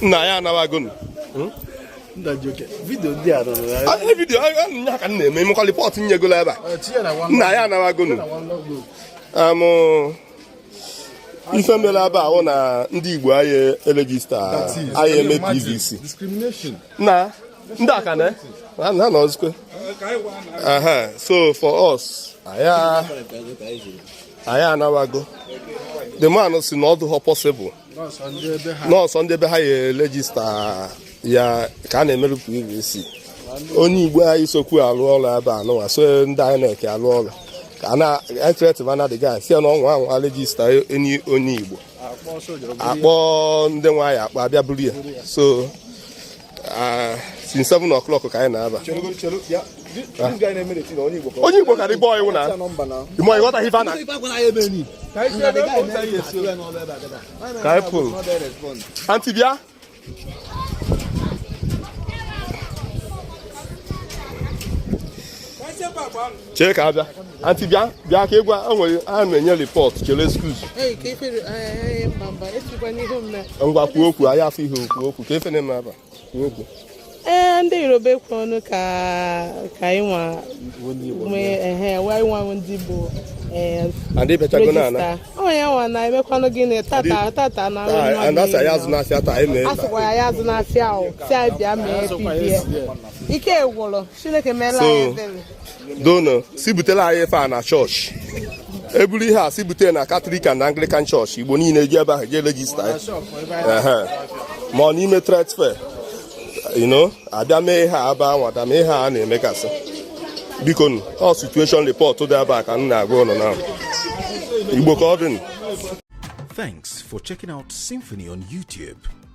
nna ya anawagonu hmm? vidio ndị a rụrụ ya ah, vidio ah, ah, nya ka m na-eme mekwa report nyegola ebe a nna ya anawagonu ife mere ebe ahụ na ndị Igbo anyị erejista anyị eme PVC na ndị aka na ha nọzikwe so for us anyị anawago the man si na ọ dụghọ possible na ọ sọ ndị be ha ya rejista ya ka a na-emerụ PVC onye igbo anyị sokwu alụ ọrụ ebe a nụwa so ndị INEC alụ ọrụ ka a na-ethreaten na the guy si na ọ nwaa anwa rejista any onye igbo akpọ ndị nwaanyị akpa abịa buru ya so ah, since 7 o'clock ka anyị nọ aba onye igbo ka dị bọọ iwu na ịmọ ịghọta ife na ka anyị pụrụ anti bịa chere ka abịa anti bịa bịa ka ị gwa enwere a na-enye report chere excuse ngwa kwuo okwu anyị afọ ihe okwu okwu ka ife na-eme aba kwuo okwu ee ndị yoruba ekwu ọnụ ka ka anyị nwa ndị igbo onye nwa na-emekwanụ gịnị tata tata na asịkwa ya azụna afịa ahụ si anyị bịa mee PVC ike gwụrụ Chineke meela anyị ebere. dono si butela anyị ife a na church eburu ihe a si bute na Catholic and Anglican church igbo niile jee ebe ahụ jee regista ya Ehe. ma ọ n'ime trade fair ino abịa mee ihe a ebe a nwa da mee ihe a na-emegasị biko nụ ọ situation report dị ebe a ka m na-agwa ụnụ na igbo ka ọ dị nụ. Thanks for checking out Symphony on YouTube.